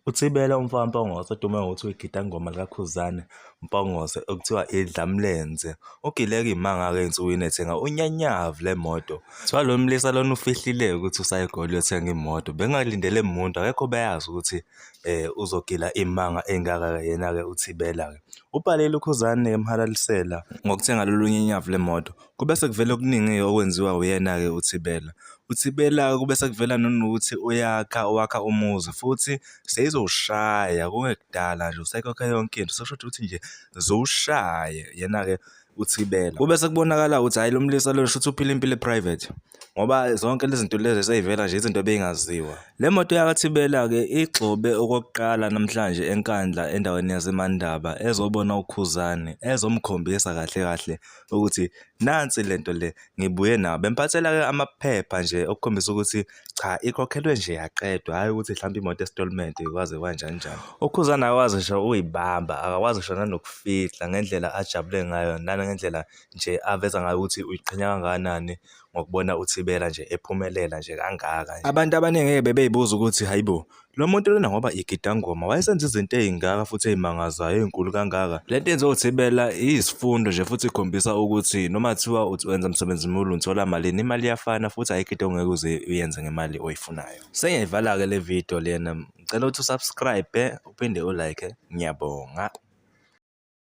UThibela umfana Mpongose odume ngokuthi uyigida ngoma likaKhuzane Mpongose okuthiwa idlamlenze ugileka imanga-ke ensukwini ethenga unyanyavu lemoto. Kuthiwa lo mlisa lona ufihlile ukuthi usayegoli uyothenga imoto. Bengingalindele muntu akekho beyazi ukuthi um uzogila imanga engaka-ke yena-ke uThibela-ke. Ubhalile uKhuzane emhalalisela ngokuthenga lolu nyanyavu lemoto. Kube sekuvela okuningi-ke okwenziwa uyena-ke uThibela. UThibela kube sekuvela nanokuthi uyakha, wakha umuzi futhi seyizowushaya kungekudala nje usekhokhe yonke into. Sekushuthi ukuthi nje ziwushaye yena-ke uThibela. Kube sekubonakala ukuthi hhayi lo mlisa lo shuthi uphila impilo e-private ngoba zonke lezi zinto lezi seyivela nje izinto ebey'ngaziwa. Le moto yakaThibela-ke igxobe okokuqala namhlanje eNkandla endaweni yaseMandaba ezobona uKhuzani ezomkhombisa kahle kahle ukuthi nansi lento le ngibuye nawo bemphathela ke amaphepha nje okukhombisa ukuthi cha ikhokhelwe nje yaqedwa hhayi ukuthi mhlawumbe imoto estolment kwaze kwanjani njani ukhuzana akakwazi ngisho uyibamba akakwazi ngisho nanokufihla ngendlela ajabule ngayo nangendlela nje aveza ngayo ukuthi uyiqhenya kangakanani ngokubona uThibela nje ephumelela nje kangaka nje. Abantu abaningi ngeke bebeyibuza ukuthi hayibo lo muntu lona ngoba igidangoma wayesenza izinto ey'ngaka futhi ey'mangazayo ey'nkulu kangaka le nto yenziwa uthibela iyisifundo nje futhi ikhombisa ukuthi noma kuthiwa wenza msebenzi mulu ngithola malini imali iyafana futhi ayikho into ongeke uze uyenze ngemali oyifunayo sengiyivala-ke le video lena ngicela ukuthi usubscribe uphinde ulike ngiyabonga